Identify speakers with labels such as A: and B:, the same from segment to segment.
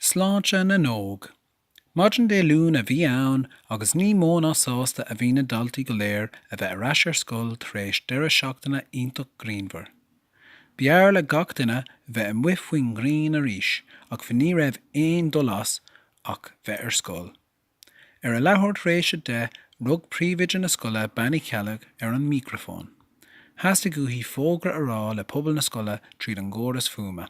A: Sláinte na nÓg. Maidin Dé Luain a bhí ann agus ní mó ná sásta a bhí na daltaí go léir a bheith ar ais ar scoil tar éis deireadh seachtaine iontach grianmhar. B'fhearr le gach duine bheith amuigh faoin ngrian arís ach ní raibh aon dul as ach bheith ar scoil. Ar a leathuair tar éis a deich rug príomhoide na scoile Bean Uí Cheallaigh ar an mícreafón. Theastaigh uaithi fógra a rá le pobal na scoile tríd an gcóras fuaime.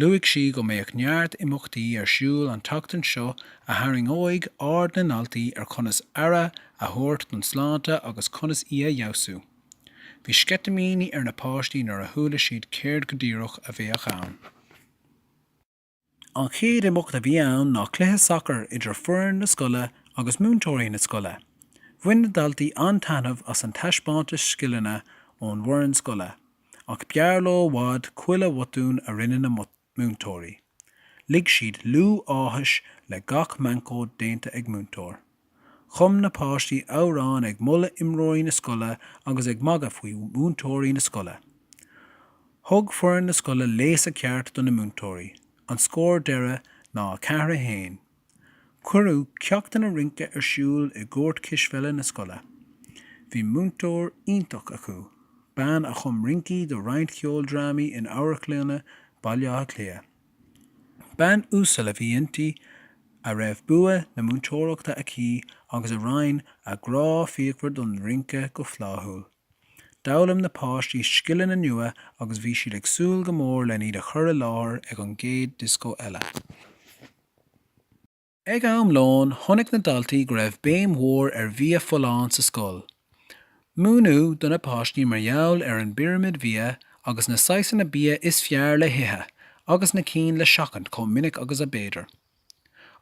A: Luaigh sí go mbeadh neart imeachtaí ar siúl an tseachtain seo a tharraingeoidh aird na ndaltaí ar chonas aire a thabhairt don tsláinte agus conas í a fheabhsú. Bhí sceitimíní ar na páistí nuair a chuala siad céard go díreach a bheadh ann. An chéad imeacht a bhí ann ná cluiche sacair idir foireann na scoile agus múinteoirí na scoile. Bhain na daltaí an-taitneamh as an taispeántas scileanna ón bhfoireann scoile. ach b'fhearr leo i bhfad chuile bhotún a rinne na múinteoirí. Lig siad liú áthais le gach meancóid déanta ag múinteoir. Chum na páistí amhráin ag moladh imreoirí na scoile agus ag magadh faoi mhúinteoirí na scoile. Thug foireann na scoile léasadh ceart do na múinteoirí. An scór deireadh ná 4 1. Cuireadh ceachtanna rince ar siúl i gcúirt cispheile na scoile. Bhí múinteoir iontach acu, bean a chum rincí do roinnt cheoldrámaí in amharclanna Bhaile Átha Cliath. Bean uasal a bhí inti a raibh bua na múinteoireachta aici agus a roinn a grá fíochmhar don rince go fláithiúil. D'fhoghlaim na páistí scileanna nua agus bhí siad ag súil go mór lena iad a chur i láthair ag an gcéad disco eile. Ag am lóin, chonaic na daltaí go raibh béim mhór ar bhia folláin sa scoil. Múineadh do na páistí mar gheall ar an bpirimid bhia agus na saghasanna bia is fearr le hithe agus na cinn le seachaint chomh minic agus ab fhéidir.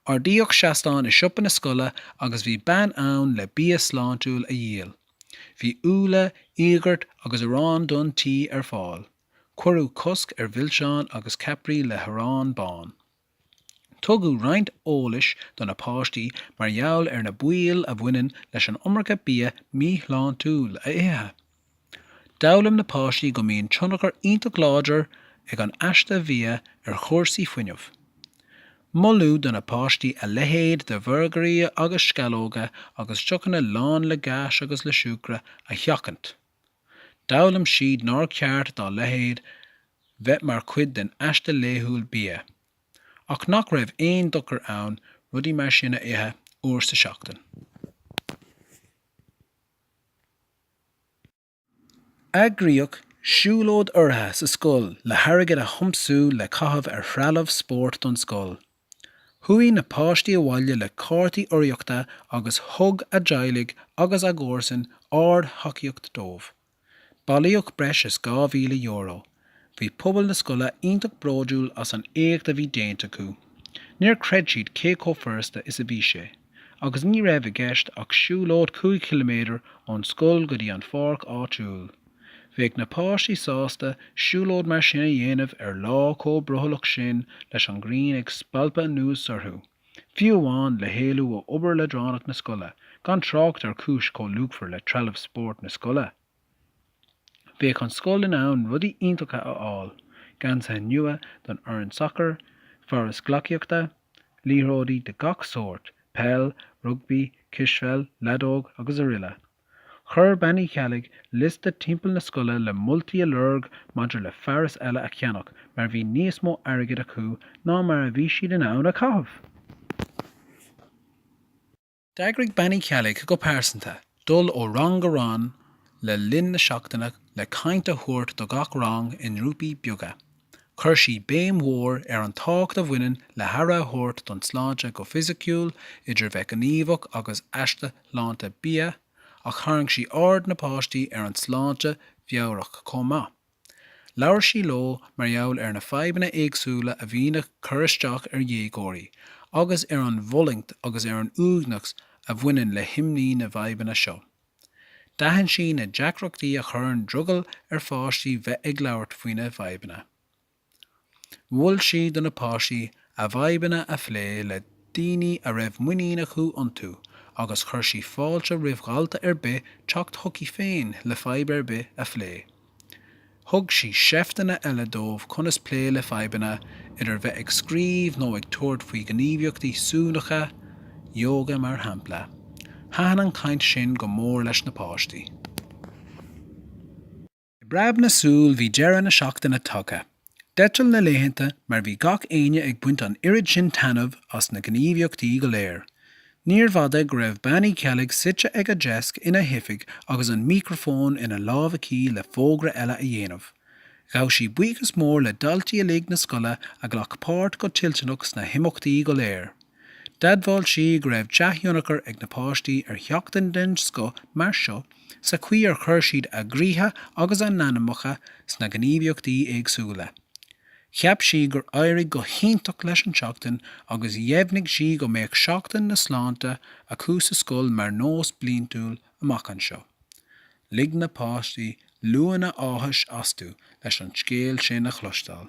A: Ardaíodh seastán i siopa na scoile agus bhí bean ann le bia sláintiúil a dhíol. Bhí úlla, íogart agus arán donn tí ar fáil. Cuireadh cosc ar mhilseáin agus ceapairí le harán bán. Tugadh roinnt eolais do na páistí mar gheall ar na baoil a bhaineann leis an iomarca bia míshláintiúil a ithe. D'fhoghlaim na páistí go mbíonn tionchar iontach láidir ag an aiste bhia ar chúrsaí fuinnimh. Moladh do na páistí a leithéid de bhurgairí agus sceallóga agus deochanna lán le gás agus le siúcra a sheachaint. D'fhoghlaim siad nár cheart dá leithéid bheith mar chuid den aiste laethúil bia, ach nach raibh aon dochar ann rudaí mar sin a ithe uair sa seachtain. Eagraíodh siúlóid urraithe sa scoil le hairgead a thiomsú le caitheamh ar threalamh spóirt don scoil. Chuaigh na páistí abhaile le cártaí urraíochta agus thug a dteaghlaigh agus a gcomharsain ard-thacaíocht dóibh. Bailíodh breis is €2,000. Bhí pobal na scoile iontach bródiúl as an éacht a bhí déanta acu. Níor chreid siad cé chomh furasta is a bhí sé. agus ní raibh i gceist ach siúlóid 5 chiliméadar ón scoil go dtí an pháirc áitiúil. Bheadh na páistí sásta siúlóid mar sin a dhéanamh ar lá chomh brothallach sin leis an ghrian ag spalpadh anuas orthu, fiú amháin le héalú ó obair leadránach na scoile, gan trácht ar chúis chomh luachmhar le trealamh spóirt na scoile. Bheadh an scoil in ann rudaí iontacha a fháil, geansaithe nua don fhoireann sacair, fearas gleacaíochta, liathróidí de gach sórt, peil, rugbaí, cispheil, leadóg agus aroile. Chuir Bean Uí Cheallaigh liosta timpeall na scoile le moltaí a lorg maidir le fearas eile a cheannach mar bhí níos mó airgid acu ná mar a bhí siad in ann a chaitheamh! D'eagraigh Bean Uí Cheallaigh go pearsanta dul ó rang go rang le linn na seachtaine le caint a thabhairt do gach rang i ngrúpaí beaga. Chuir sí béim mhór ar an tábhacht a bhaineann le haire a thabhairt don tsláinte go fisiciúil, idir bheith gníomhach agus aiste sláinte bia, ach tharraing sí aird na páistí ar an tsláinte mheabhrach chomh maith. Labhair sí leo mar gheall ar na fadhbanna éagsúla a bhíonn ag cur isteach ar dhéagóirí, agus ar an bhfulaingt agus ar an uaigneas a bhaineann le himní na bhfadhbanna seo. D'aithin sí na deacrachtaí a chuireann drogall ar pháistí bheith ag labhairt faoina bhfadhbanna. Mhol sí do na páistí a bhfadhbanna a phlé le daoine a raibh muinín acu iontu agus chuir sí fáilte roimh dhalta ar bith teacht chuici féin le fadhb ar bith a phlé. Thug sí seifteanna eile dóibh conas plé le fadhbanna, idir bheith ag scríobh nó ag tabhairt faoi ghníomhaíochtaí suaimhneacha, yoga mar shampla. Thaitin an chaint sin go mór leis na páistí. I bpreab na súl bhí deireadh na seachtaine tagtha. D'eitil na laethanta mar bhí gach éinne ag baint an oiread sin taitneamh as na gníomhaíochtaí go léir. Níorbh fhada go raibh Bean Uí Cheallaigh suite ag a deasc ina hoifig agus an micreafón ina lámh aici le fógra eile a dhéanamh. Ghabh sí buíochas mór le daltaí uilig na scoile a ghlac páirt go toilteanach sna himeachtaí go léir. D'admháil sí go raibh dea-thionchar ag na páistí ar sheachtain den scoth mar seo sa chaoi ar chuir siad a gcroíthe agus a n-anamacha sna gníomhaíochtaí éagsúla. Cheap sí gur éirigh go hiontach leis an tseachtain agus dheimhnigh sí go mbeadh Seachtain na Sláinte acu sa scoil mar nós bliantúil amach anseo. Lig na páistí liúnna áthais astu leis an scéal sin a chloisteáil.